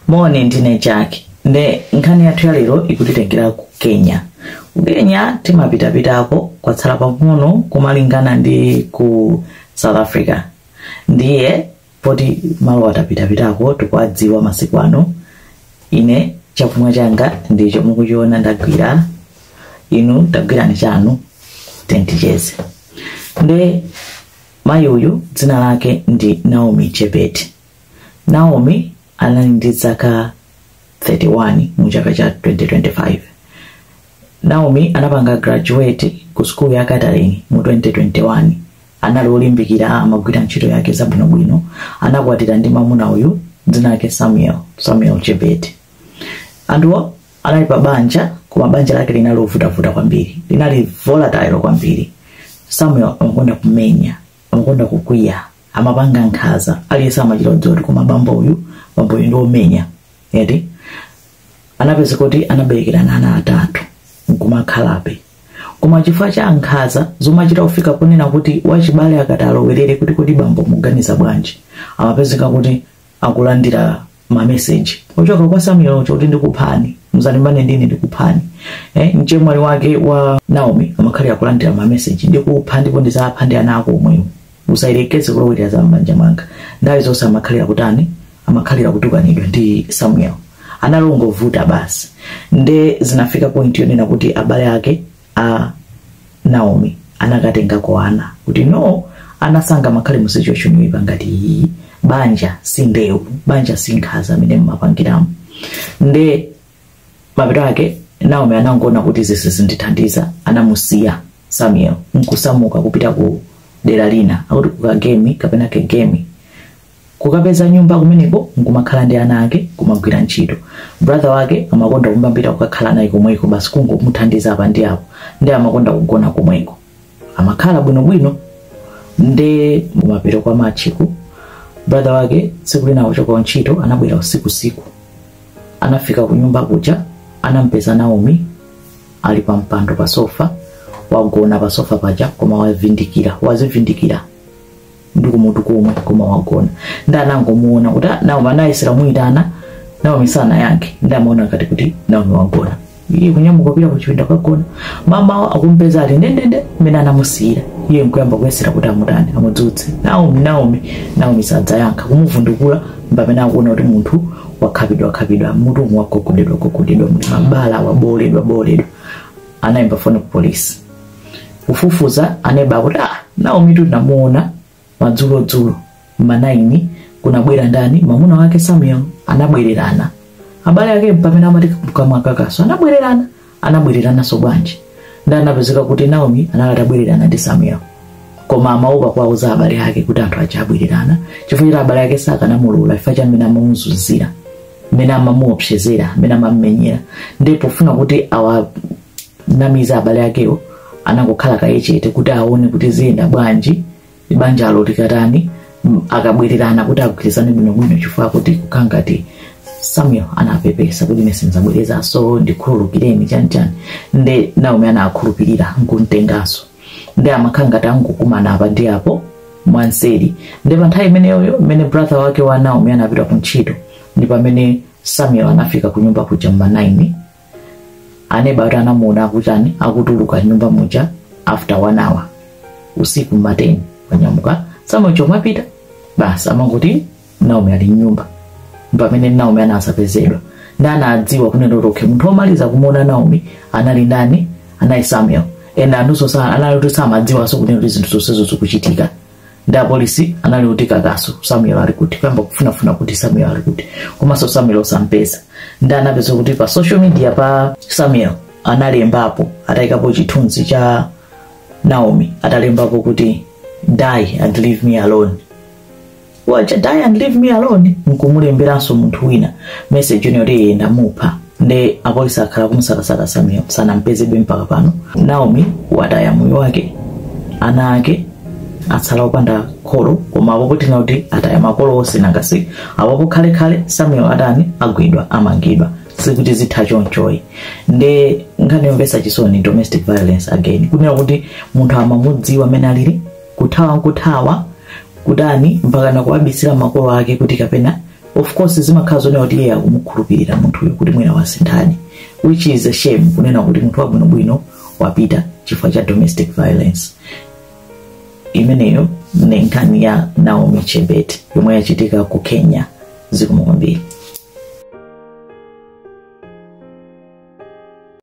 moni ndine jack nde nkhani yathu ya lero ikutitengera ku kenya ku kenya timapitapitako kwatsala pang'ono kumalingana ndi ku south africa ndiye poti malo atapitapitako tikuwadziwa masiku ano ine chakumwa changa ndicho mukuchiona ndagwira inu tagwirani chanu then ticheze nde mayi uyu dzina lake ndi naomi chebet naomi anali ndi zaka 31 mu chaka cha 2025 naomi anapanga graduate ku sukulu ya catering mu 2021 anali olimbikira amagwira ntchito yake zabwinobwino anakwatira ndi mamuna uyu dzina lake samuel samuel chebet anthuwa anali pa banja koma banja lake linali lovutavuta kwambiri linali volatile kwambiri samuel amakonda kumenya amakonda kukwiya amapanga nkhanza aliyense amachita kudziwa kuti koma bambo uyu bambo uyu ndi omenya eti anapezeka kuti anaberekerana ana atatu nkumakhalabe koma chifukwa cha nkhanza zomachita kufika ponena kuti wachibale akati alowerere kuti kodi bambo muganiza bwanji amapezeka kuti akulandira mameseji ochoka kwa samuel oti ndikuphani muzalimbana ndine ndikuphani eh, mchemwali wake wa naomi amakhalira kulandira mameseji ndikupha ndipo ndizapha ndi ana ako omwewo usayerekeze kulowera za m'banja mwanga nthawi zonse amakhalira kutani amakhalira kutukanidwa ndi samuel anali ongovuta basi nde zinafika point yonena kuti abale ake a naomi anakatengako ana kuti no ana sangamakhale mu situation yoipa ngati iyi banja si ndewu banja si nkhanza amene mmapangiramo nde mapeto ake naomi anangoona kuti izi sizindithandiza anamusiya samuel nkusamuka kupita ku dera lina akuti ku kangemi kapena kagemi kukapeza nyumba kumeneko nkumakhala ndi ana ake kumagwira ntchito brother wake amakonda kumabwera kukakhala naye komweko basi kungomuthandiza apa ndi apo ndi amakonda kugona komweko amakhala bwinobwino nde m'mapita kwa masiku brother wake tsiku lina kuchoka ku ntchito anabwera usiku usiku anafika ku nyumba kuja anampeza naomi ali pa mpando pa sofa wagona pa sofa paja koma wavindikira wazivindikira ndi kumutu komwe koma wagona ndi anangomuona kuti "Ah, naomi anayesera kumuyitana naomi sanayankhe ndi amaona ngati kuti naomi wagona iye kunyamuka kupita ku chipinda kagona mamawo akumpeza ali ndendende mmene anamusiyira iye nkuyamba kuyesera kuti amutani amudzutse naomi naomi naomi sakuyankha kumuvundukula mpamene akuona kuti munthu wakhapidwa khapidwa mutu umu wagogodedwa gogodedwa munthu mabala wabooledwa booledwa anayimba foni ku polisi kufufuza aneba akuti ah, naomi tinamuona madzulodzulo mmanaini kunabwera ndani mwamuna wake samuel anabwererana abale ake pamene amati kukamwa kakasi anabwererana anabwererananso bwanji nde anapezeka kuti naomi anali atabwererana ndi samuel koma amaopa kuwauza abale ake kuti anthu aja abwererana chifukwa choti abale ake sakanamulula chifukwa cha mmene amamuzunzira mmene amamuopsezera mmene amammenyera nde pofuna kuti awa namize abale akewo anangokhala kaye chete kuti aone kuti ziyenda bwanji banjalo likatani m- akabwererana kuti agwirizane bwinobwino chifukwa kuti kukhala ngati samuel anapepesa kuti ine sinzabwerezaso ndikhululukireni chanichani nde naomi anakhulupirira nkumtenganso nde amakhala ngati angokumana apa ndi apo mwanseri nde pa nthawi imeneyoyo mmene brother wake wa naomi anapita ku ntchito ndi pamene samuel anafika ku nyumba kuja mma 9 aneba ati anamuona akutani akutuluka nyumba muja after one hour usiku mmateni wanyamuka samuel cho wapita basi amangoti naomi ali mnyumba pamene naomi anazapezedwa nde anadziwa kunena kuti okay munthu omaliza kumuona naomi anali ndani anali samuel ena anthunso sa- anali kuti samadziwanso kunena kuti zinthu zonsezo zikuchitika nde apolisi anali uti kakasi samuel ali kuti kuyamba kufunafuna kuti samuel ali kuti komanso samuel osampeza nde anapeza kuti pa social media pa samuel analembapo atayikapo chithunzi cha naomi atalembapo kuti die and leave me alone wacha die and leave me alone nkumulemberanso munthu wina message yonse yoti ye ndamupha nde apolisi akhala kumusakasaka samuel sanampezebe mpaka pano naomi wataya moyo wake ana ake atsala opanda kholo koma apopo tinakati ataya makolo onse nangasi apopo khalekhale samuel atani agwidwa amangidwa sikuti zitha chonchoyi nde nkhani yomvetsa chisoni domestic violence again kunena kuti munthu amamudziwa amene alili kuthawa nkuthawa kutani mpaka nakuwabisira makolo ake kuti kapena of course zimakhala zonena kuti iye akumukhulupirira munthuyo kuti mwina wasinthani which is a shame kunena kuti munthu wabwinobwino wapita chifukwa cha domestic violence imeneyo ne nkhani ya naomi chebet yomwe yachitika ku kenya zikomo kwambiri